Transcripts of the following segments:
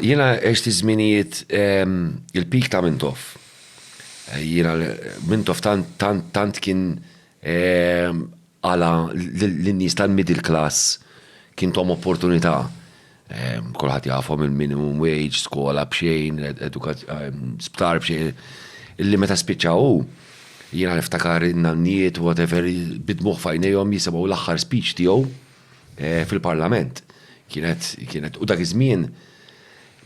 Jiena għext iż-żminijiet il-peak ta' Mintoff. Jiena Mintoff tant tant tant kien għala lin-nies tal-middle class kien thom opportunità. Kulħadd jafhom il-minimum wage, skola b'xejn, sptar b'xejn. Illi meta spiċċa hu, jiena niftakar in-nannijiet whatever bid-dmugħ f'għajnejhom jisimgħu l-aħħar speech tiegħu. fil-Parlament. Kienet, kienet, u dak iż-żmien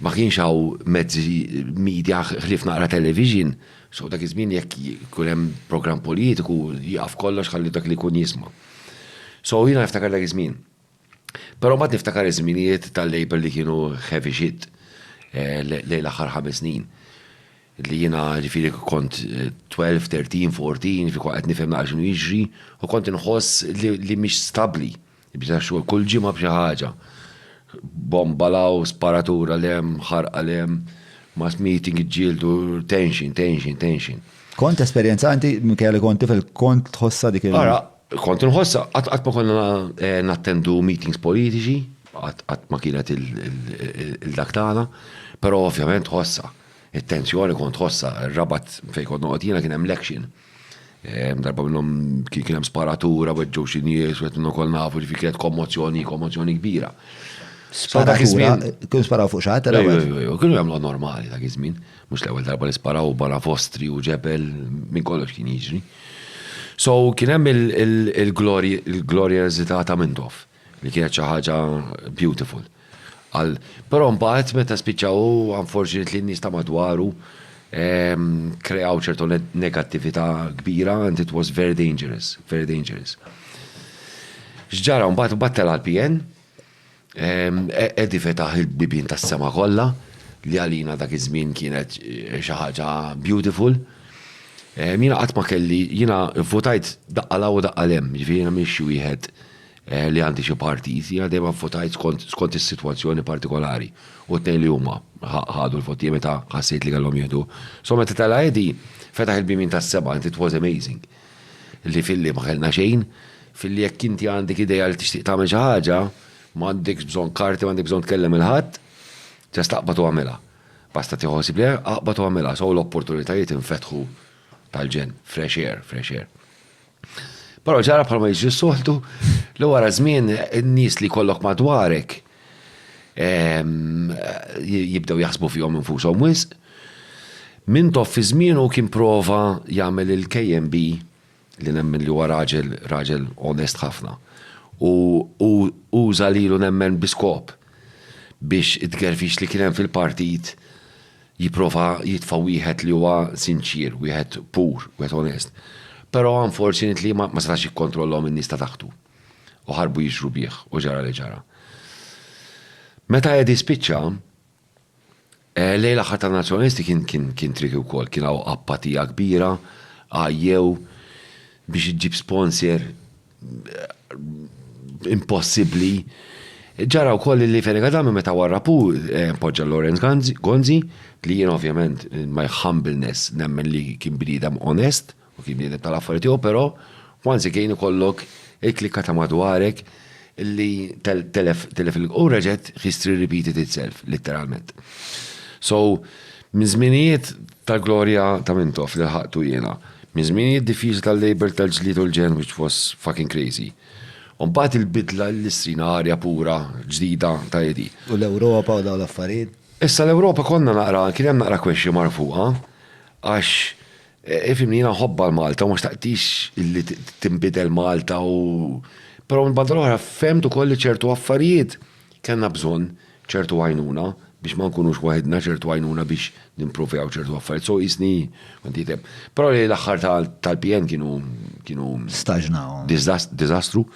ma kienx hawn mezzi media ħlief naqra television, so dak iż-żmien jekk jkun hemm programm politiku jieqaf kollox ħalli dak li jkun jisma'. So jiena niftakar dak iż-żmien. Però mbagħad niftakar iż-żminijiet tal-Labour li kienu heavy shit lejn l-aħħar ħames snin. li jiena ġifieri kont twelve, thirteen, fourteen, ġifieri kont qed nifhem naqra x'inhu jiġri u kont inħoss li li mhix stabbli. Bda x-xogħol kull ġimgħa b'xi ħaġa. Bomba 'l hawn, sparatura 'l hemm, ħarqa 'l hemm, mass meeting iġġieldu, tension, tension, tension. Kont tesperjenza inti minkejja li kont tifel kont tħossha dik il-. Ara, kont inħossha, qatt qatt ma konna nattendu meetings politiċi, qatt qatt ma kienet il-dak tagħna, però ovvjament tħossha. It-tensjoni kont ħossha, ir-Rabat fejn kont noqgħod jiena kien hemm l-action. Darba minnhom kien hemm sparatura, weġġgħu xi nies, qed ukoll nafu ġifi kienet kommozzjoni, kommozzjoni kbira. Sparatura, kien sparaw fuq xaħat, kien jagħmlu normali ta' kizmin, mhux l-ewwel darba li sparaw barra fostri u ġebel minn kollox kien jiġri. So kien hemm il-glorja eżitata minn tof. Li kienet xi ħaġa beautiful. Għal, però mbagħad meta spiċċaw unfortunately n-nies ta' madwaru ehm, kreaw ċertu negattività kbira and it was very dangerous, very dangerous. X'ġara mbagħad battel għal PN, ehm, e- Edi fetaħ il-bibin tas-sema kollha li għalina dak iż-żmien kienet eh, xi ħaġa beautiful. Ehm, Jiena qatt ma kelli, jiena votajt daqqa law u daqqa lem, jiġifieri jiena mhix xi wieħed li għandi xi partit, jiena dejjem vvotajt skont skont is-sitwazzjoni partikolari. U t-tnejn li huma ħadu l-vot tiegħi meta ħassejt li kellhom jieħdu. So meta tela' Edi, fetaħ il-bibien tas-seba' and it was amazing. Li filli ma kellna xejn, filli jekk inti għandek idea li tixtieq tagħmel xi ħaġa, m'għandekx bżonn karti, m'għandek bżonn tkellem il-ħadd, just aqbad u agħmilha. Basta tieħu ħsieb li aqbad u agħmilha. So l-opportunitajiet infetħu tal-ġenn, fresh air, fresh air. Però ġara bħalma jiġri soltu li wara żmien n-nies li kollok madwarek ehm, jibdew jaħsbu fihom infushom wisq. Min tof fi żmienu kien prova jagħmel il-KMB li nemmen li huwa raġel raġel onest ħafna. U uża lilu nemmen biskop biex it-gerfix li kien hemm fil-partit jipprova jitfa' wieħed li huwa sinċier, wieħed pur, wieħed onest. Però unfortunately ma setax jikkontrollhom in-nies ta' taħtu u ħarbu jixhru bih u ġara li ġara. Meta Eddie spiċċa, lejl l-aħħar tan-Nazzjonalisti kien tricky wkoll, kien hawn appatija kbira, għajjew biex iġġib sponsor impossibbli. Ġara wkoll li Fene Kadami meta warrapu eh, poġġa Lorenz Gonzi li jien ovvjament eh, my humbleness nemmen li kien bniedem onest u kien bniedem tal-affarijiet tiegħu, però once again ikollok il-klikka ta' madwarek li telef telef u reġet history repeated itself, literalment. So, minn żminijiet Ta' glorja ta' Mintoff li lħaqtu jiena. Minn żminijiet diffiċli tal-Labour tal-ġlied u l-ġenn which was fucking crazy. U mbagħad il-bidla li srina arja pura, ġdida, ta' Edi. U l-Ewropa u dawn l-affarijiet? Issa l-Ewropa konna naqra, kien hemm naqra question mark fuqha għax ifhimni jiena nħobbha l-Malta u ma xtaqtix li tinbidel Malta u però mill-banda l-oħra fhemt ukoll li ċertu affarijiet, Kellna bżonn ċertu għajnuna biex ma nkunux waħidna, ċertu għajnuna biex nimprovjaw ċertu affarijiet, so qisni kont jitem. Però lejn l-aħħar tal-PN kienu kienu Staġnaw. diżastru.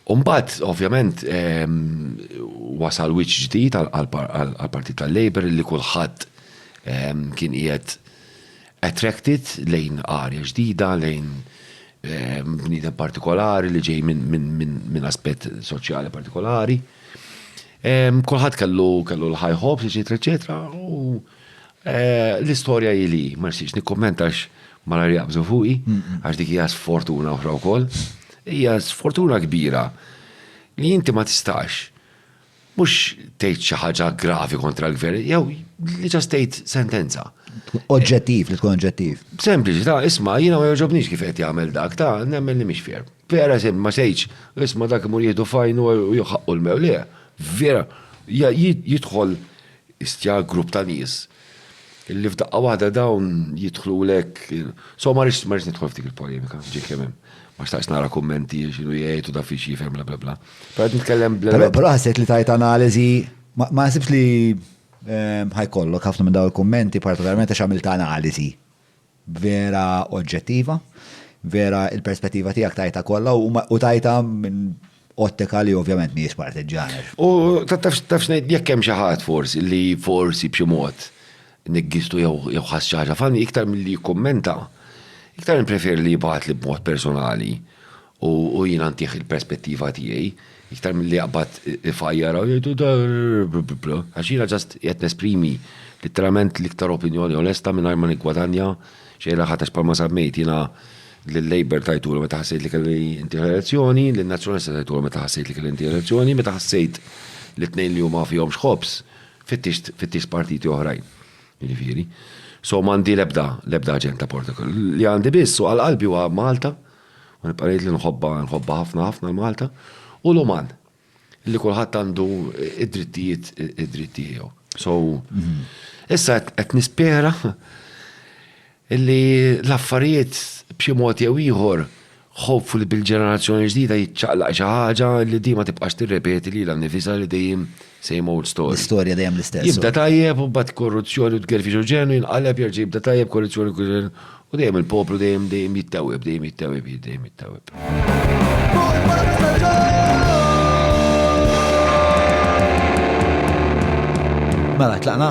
U mbagħad ovvjament wasal wiċċ ġdid għall-Partit tal-Labour li kulħadd kien qiegħed Attracted lejn arja ġdida, lejn bniedem partikolari li ġej minn aspett soċjali partikolari. Kulħadd kellu kellu l-high hopes, eċetera, eċetera, u eh, l-istorja hi li ma nixtieqx nikkummenta għax malar jaqbżu fuqi, għax dik hija sfortuna oħra wkoll. Hija sfortuna kbira li inti ma tistax Mhux tgħid xi ħaġa gravi kontra l-Gvern, jew li ġast tgħid sentenza. Oġġettiv, li tkun oġġettiv. Sempliċi, ta' isma' jiena ma jogħġobnix kif qed jagħmel dak, ta' nemmen li mhix fier. Per eżempju, ma sejċ, isma' dak imur jieħdu fajn u jħaqqu l-mewlija. Vera, jidħol istja grupp ta' nies Illi f'daqqa waħda dawn jidħlulek. So ma rridx ma rridx nidħol f'dik il-polemika, ġej kemm hemm. Ma xtaqx nara kummenti x'inhu jgħid u da fiex jifhem bla bla bla. Però qed nitkellem bla. Però però ħassejt li tajt analiżi ma naħsibx li ħajkollok ħafna minn dawn il-kummenti partikolarment għax għamilt analiżi. vera oġġettiva, vera il-perspettiva tiegħek tajta kollha u tajta minn ottika li ovvjament mhijiex partiġġana. U taf ngħid jekk hemm xi ħadd forsi li forsi b'xi mod niggistu jew ħass xi ħaġa fani iktar milli jikkummenta, iktar nippreferi li jibgħatli b'mod personali U jiena ntih il-perspettiva tiegħi, iktar milli jaqbad ifajjar u jgħidu da għax jiena ġast qed nesprimi literalment l-iktar opinjoni onesta mingħajr ma niggwadanja xejra ħatax palma sammejt jiena l-Labor tajtulu meta ħassejt li kelli inti elezzjoni, l-Nazzjonalista tajtulu meta ħassejt li kelli inti elezzjoni, meta ħassejt li tnejn li huma fihom xħobs, fittix partiti oħrajn. Jiġifieri. So m'għandi l-ebda, l-ebda aġenda portakol. Li għandi biss u għal-qalbi huwa Malta, U nibqa' ngħid li nħobbha, nħobbha ħafna ħafna l-Malta u l-uman li kulħadd għandu id-drittijiet id-dritt tiegħu. So, issa qed nispera li l-affarijiet b'xi mod jew ieħor ħobfu li bil-ġenerazzjoni ġdida jiċċaqlaq xi ħaġa li dima tibqax tirrepeti li l-nifisa li dejjem Same old story. L-istorja dejjem l-istess. Jibda tajjeb u bat korruzzjoni u tgerfix u ġenu jinqaleb jerġa' jibda tajjeb korruzzjoni u ġenu. U dejjem il-poplu dejjem dejjem jittawib, dejjem jittawib, dejjem jittawib. Mela, tlaqna?